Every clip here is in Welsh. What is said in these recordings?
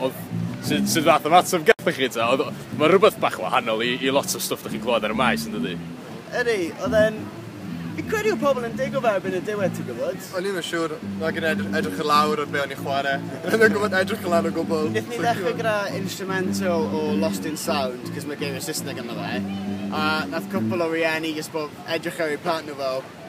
Oedd, sut, sut fath o ymateb gathoch chi ta? Oedd, mae rhywbeth bach wahanol i, i lot o stwff da chi'n clywed ar y maes yn dydy? Ydy, oedd e'n... Fi credu oedd pobl yn digo fe erbyn y diwedd ti'n gwybod? O'n i'm yn siŵr, nag yn edrych, edrych yn lawr ar be o'n i'n chwarae. O'n i'n gwybod edrych yn lawr o gwbl. Nethon ni ddechrau gyda instrumental o Lost in Sound, cos mae geiriau Saesneg ynddo fe, a nath cwpl o rieni jyst bod edrych ar eu plant nhw fel,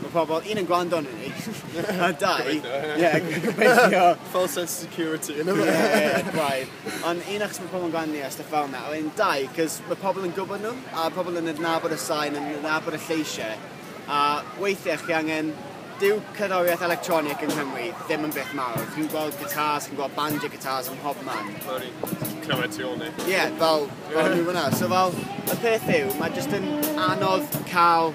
Mae pobl, un yn gwrando yn ni, a dau... Gobeithio, ie. Ie, gobeithio. False sense of security yn yma. Ie, ie, braidd. Ond un achos mae pobl yn gwrando ni a stuff fel yna, a wedyn dau, cos mae pobl yn gwybod nhw, a pobl yn adnabod y sain, yn adnabod y lleisiau, a weithiau chi angen dyw cerddoriaeth electronic yng Nghymru ddim yn beth mawr. Dwi'n gweld guitars, chi'n gweld banjo guitars ym mhob man. Fel o'n i'n clywed tu ôl ni. Ie, yeah, fel, fel yeah. nhw fyna. So fel, y peth yw, mae jyst yn anodd cael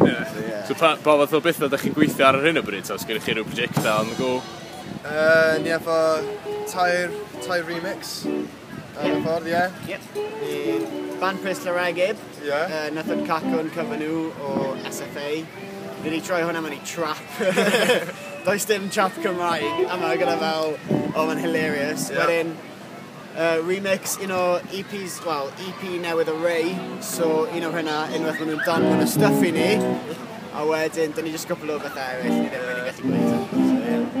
Ie. So pa pa fath o betha 'dach chi'n gweithio ar ar hyn o bryd ta o's gennych chi ryw projecta on the go? Yy ni efo tair tair remix ar y ffordd ie. Yep. Bydd Band Pres Laragyb. Ie. Yy Nythod Cacwn cover nhw o SFA. Fi 'di troi hwnna mewn i trap. Does dim trap Cymraeg yma gyda fel o ma'n hilarious. Ie. Wedyn Uh, remix, un o EPs, wel, EP newydd o Ray, so un o hynna, unwaith maen nhw'n dan hwn y stuff i ni, a wedyn, dyn ni jyst gwbl o bethau eraill, ni ddim wedi gallu gwneud.